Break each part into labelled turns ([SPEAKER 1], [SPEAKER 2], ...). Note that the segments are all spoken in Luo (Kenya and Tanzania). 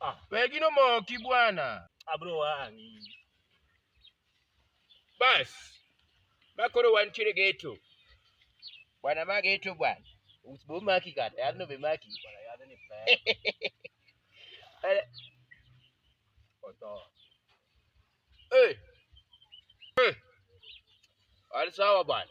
[SPEAKER 1] Ah. Wewe gino moki bwana. Abro wangi. Bas. Makoro wantiere geto. Bwana ma geto bwana. Usibo maki kata, yadno be maki. Bwana
[SPEAKER 2] yadno ni pesa. Oto. Eh.
[SPEAKER 1] Eh. Wali sawa bwana.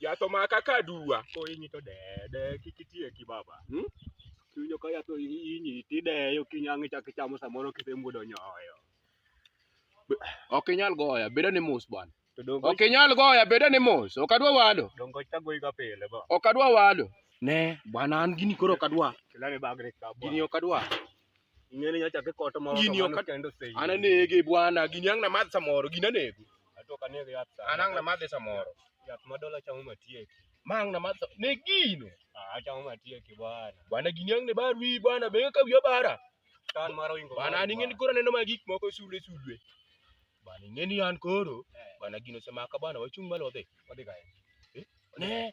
[SPEAKER 1] Yath omaka ka aduwa. Kohinyi to deye
[SPEAKER 2] deye kik itieki baba. Hmm? Kiwinjo ka yath ohinyi tideye ok inyang' ichak ichamo samoro kisemuodo nyoyo. Ok
[SPEAKER 1] inyal goya, bedo ni mos bwana. To dongo Ok inyal goya, bedo ni mos. Ok adwa wado. dongo chagoyi ga pile
[SPEAKER 2] ba. Ok adwa wado.
[SPEAKER 1] Ne, bwana an gini koro ok adwa. Kilani bagni ka
[SPEAKER 2] Gini bwana. ok adwa.
[SPEAKER 1] Ingeni
[SPEAKER 2] nyocha kikoto moro Gini ok- kendo sei. An
[SPEAKER 1] anege bwana, gini ang' namadh samoro, gini anego. Atok anege yath
[SPEAKER 2] sa. An ang' namadhe samoro.
[SPEAKER 1] Yath ma dola chamo
[SPEAKER 2] matieki. Ma ang' namadh sa-
[SPEAKER 1] ne gino. Ah, achamo matieki
[SPEAKER 2] bwana. Bwana gini ang' ne bar
[SPEAKER 1] wiyi bwana, benge ka wiya bara. Tan mar oingo.
[SPEAKER 2] Bwana an ing'eni koro aneno ma
[SPEAKER 1] gik moko sulwe sulwe. Bwana ing'eni an koro, bwana gino osemaka bwana, wachung' malo wadhi. Wadhi kae. Ne,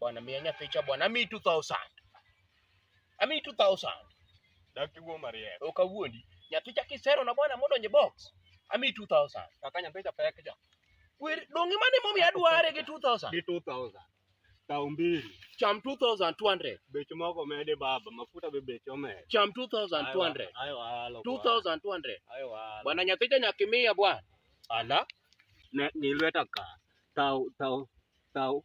[SPEAKER 1] Bwana mia nyathi cha bwana ami 2000. Ami 2000. Daki wo
[SPEAKER 2] marie. Oka wuondi. Nyathi
[SPEAKER 1] cha kisero na bwana mondo nye box. Ami 2000. Kaka nyathi cha pek
[SPEAKER 2] cha. Wer dongi mane
[SPEAKER 1] momi adware gi 2000. Gi 2000.
[SPEAKER 2] Tao mbili. Cham 2200.
[SPEAKER 1] Beche moko mede
[SPEAKER 2] baba, mafuta be beche omede. Cham 2200. Ayo
[SPEAKER 1] alo. 2200.
[SPEAKER 2] Ayo
[SPEAKER 1] alo. Bwana
[SPEAKER 2] nyathi cha nyakimia
[SPEAKER 1] bwana. Ala. Ne ni
[SPEAKER 2] lweta ka. Tao tao tao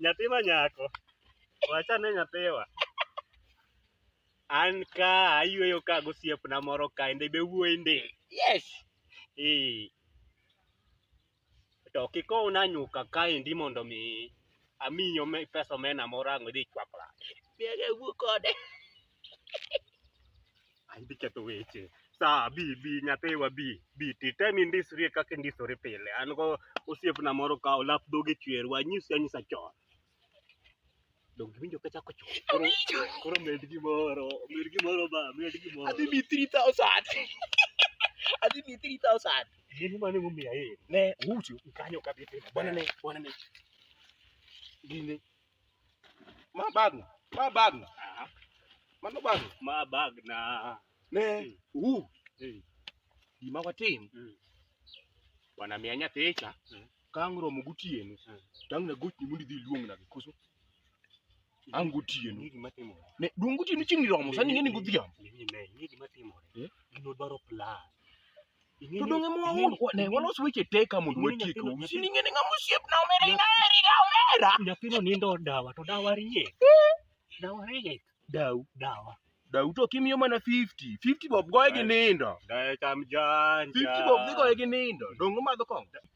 [SPEAKER 2] Nyathi ma nyako. Wacha ne nyathiwa. An ka ayueyo ka gosiepna moro ka ende be wuoyi ndi. Yes.
[SPEAKER 1] Eh.
[SPEAKER 2] To kikow na nyuka ka endi mondo mi amiyo me pesa omena moro ang' idhi chwak lach. Biaga wuo
[SPEAKER 1] kode.
[SPEAKER 2] Ai bi ketho weche. Sa bi bi nyathiwa bi bi ti tem indisri kaka indisori pile. An go osiepna moro ka olap dhoge chwer wanyisi anyisa chon. Donge winjo ka chako chon. Koro koro med gimoro, med gimoro ba, med gimoro.
[SPEAKER 1] Adhi mi 3000. Adhi mi 3000. Gini mane momiya
[SPEAKER 2] yeye. Ne ucho.
[SPEAKER 1] Kanyo ka bi pile.
[SPEAKER 2] Bwana ne, bwana ne.
[SPEAKER 1] Gini Ma bag, ma bag. Ah. Mano bag. Ma bag na.
[SPEAKER 2] Ne,
[SPEAKER 1] u. Eh. Gima watim. Mm. Bwana miya nyathicha. Mm. Kang romo gotieno. Mm. Tang na gochni mondo idhi luong na koso. Ang gotieno. Ni gima timore. Ne,
[SPEAKER 2] duong gotieno chieng'
[SPEAKER 1] romo, sani ng'e ni godhiambo. Ni ne, ni gima
[SPEAKER 2] timore. Eh? Gino dwaro plan.
[SPEAKER 1] to donge mwa un ne walos weche te ka mondo watie ka owinjo ni ngene ng'ama osiep na omera ina eri ga omera nyathino nindo
[SPEAKER 2] dawa to dawa rie dawa rie daw dawa daw to kimiyo
[SPEAKER 1] mana 50 50 bob goye gi nindo dawa cham jan
[SPEAKER 2] 50 bob dhi goye gi
[SPEAKER 1] nindo donge madho kong'o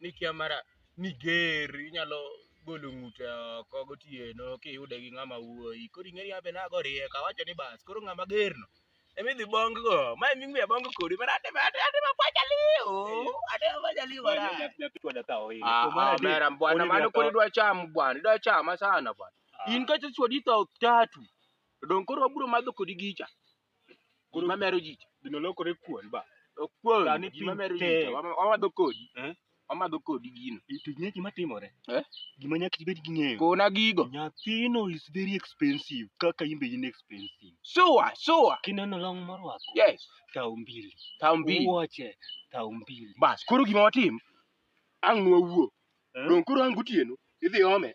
[SPEAKER 1] ni kia mara ni ger inyalo golo ng'ute oko gotieno kiyude gi ng'ama wuoyi koro ing'eni abe nago riek awacho ni bas koro ng'ama gerno emidhi bong go ma emi ng'we abong kodi mara ate ate ate mapacha liu ate mapacha liu mara mera bwana mano koro idwa cham bwana idwa chama sana bwana in kacha chwadi tho tatu dong koro wabiro madho kodi gicha Gima mero ji cha. Gino lokore kuon
[SPEAKER 2] ba. Okuon, Sani gima piny
[SPEAKER 1] mero ji tek. cha. Wama- Wamadho kodi. Eh? Wamadho kodi gino. To ing'e gima timore?
[SPEAKER 2] Eh? Gima nyaka ibed gi ng'eyo. Kona gigo.
[SPEAKER 1] Nyathino is
[SPEAKER 2] very expensive kaka in be in expensive. Sure, sure.
[SPEAKER 1] Kineno long
[SPEAKER 2] morwako, Yes. tao
[SPEAKER 1] mbili. Tao
[SPEAKER 2] mbili. Wuoche, tao mbili. Bas, koro gima watim,
[SPEAKER 1] ang' nwawuo. Eh? Dong' koro ang' gotieno, idhi ome.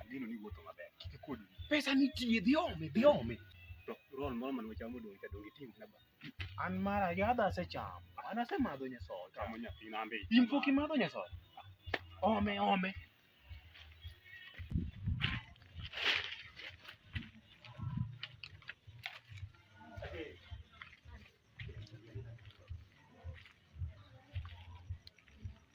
[SPEAKER 1] Ageno ni
[SPEAKER 2] wuotho maber. Kik ikod. Pesa nitie, dhi
[SPEAKER 1] ome, dhi ome. To roll
[SPEAKER 2] moro mane wachamo odong' cha dong' itim na ba. An mara
[SPEAKER 1] yadha asechamo. An asemadho nyasoda. Chamo nyathina ambe.
[SPEAKER 2] In pok imadho nyasoda?
[SPEAKER 1] Ome, ome.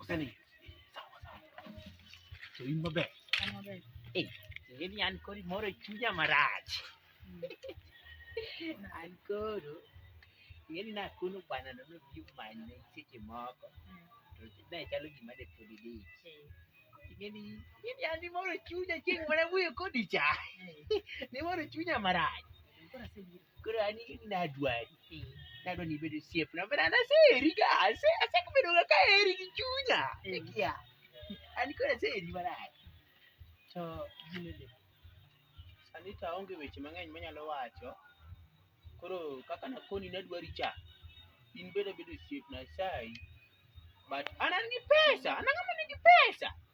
[SPEAKER 1] Usani. Sawa sawa. To in maber. Eh,
[SPEAKER 3] in yan kod moro chunya marach. An koro ngeni na kuno bwana no no biu manye seche moko. To na chalo gima de podi di. Ngeni ngeni yan ni moro chunya chieng' mara wuyo kodi cha. Ni moro chunya marach. Koro asebiro. Koro an nadwari. Nadwa ni ibed osiepna. But an aseheri ga. Ase asebedo ga kaheri gi chunya. Mm. Ikia. An koro aseheri marach. To
[SPEAKER 1] gini ni. Sani to aonge weche mang'eny manyalo wacho. Koro kaka nakoni nadwari cha. In bende bedo osiepna asayi. But an an gi pesa. An ang'ama nigi pesa.